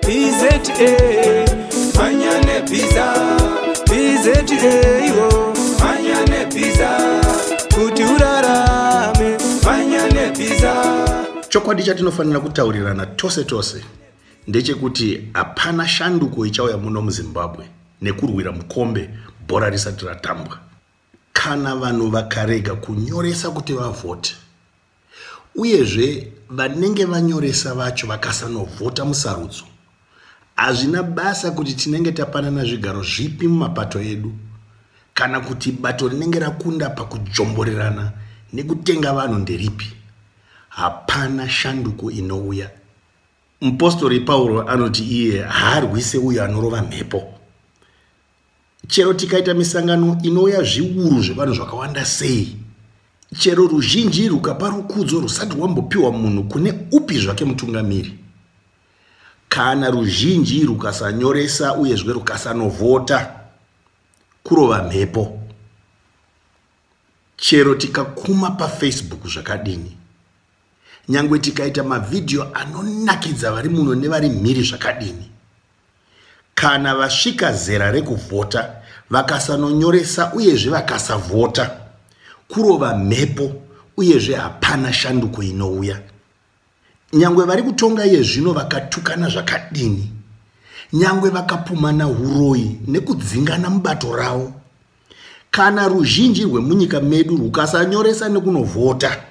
BZA manya nebhiza BZA iwo manya nebhiza kuti urarame manya nebhiza chokwadi chatinofanira kutaurirana tose tose ndechekuti hapana shanduko ichauya muno muzimbabwe nekurwira mukombe bhora risati ratambwa kana vanhu vakarega kunyoresa kuti vavhote uyezve vanenge vanyoresa vacho vakasanovhota musarudzo hazvina basa kuti tinenge tapanana zvigaro zvipi mumapato edu kana kuti bato rinenge rakunda pakujomborerana nekutenga vanhu nderipi hapana shanduko inouya mupostori pauro anoti iye haarwise uyo anorova mhepo chero tikaita misangano inouya zviuru zvevanhu zvakawanda sei chero ruzhinji rukapa rukudzo rusati rwambopiwa munhu kune upi zvake mutungamiri kana ruzhinji rukasanyoresa uyezve rukasanovhota kurova mhepo chero tikakuma pafacebook zvakadini nyangwe tikaita mavhidhiyo anonakidza vari muno nevari mhiri zvakadini kana vasvika zera rekuvhota vakasanonyoresa uyezve vakasavhota kurova mhepo uyezve hapana shanduko inouya nyangwe vari kutonga iye zvino vakatukana zvakadini nyangwe vakapumana uroyi nekudzingana mubato ravo kana ruzhinji rwemunyika medu rwukasanyoresa nekunovhota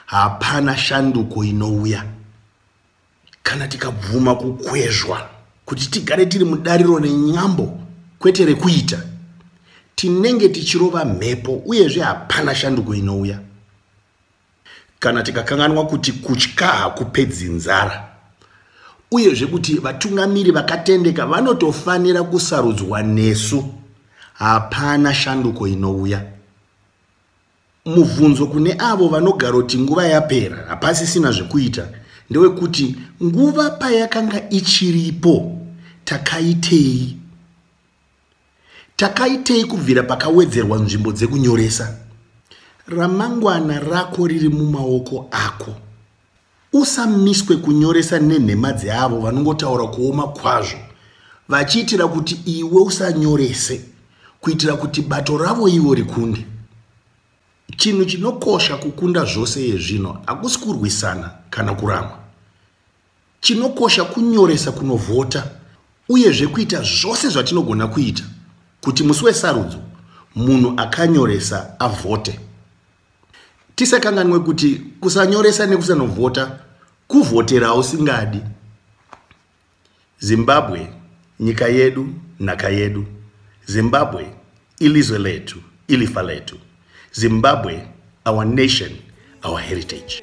hapana shanduko inouya kana tikabvuma kukwezvwa kuti tigare tiri mudariro nenyambo kwete rekuita tinenge tichirova mhepo uyezve hapana shanduko inouya kana tikakanganwa kuti kutya hakupedzi nzara uyezve kuti vatungamiri vakatendeka vanotofanira kusarudzwa nesu hapana shanduko inouya Mubvunzo kune avo vanogaroti nguva yapera hapasisina zvekuita ndewekuti nguva payakanga ichiripo takaitei takaitei kubvira pakawedzerwa nzvimbo dzekunyoresa ramangwana rako riri mumaoko ako Usamiswe kunyoresa nenhema dzeavo vanongotaura kuoma kwazvo vachiitira kuti iwe usanyorese kuitira kuti bato ravo ivo rikunde. Chinhu chinokosha kukunda zvose yezvino hakusi kurwisana kana kuramwa. Chinokosha kunyoresa kunovhota uyezve kuita zvose zvatinogona kuita kuti musi wesarudzo munhu akanyoresa avhote. tisakanganwe kuti kusanyoresa nekusanovhota kuvhotera usingadi zimbabwe nyika yedu nhaka yedu zimbabwe ilizwe letu ilifa letu zimbabwe our nation our heritage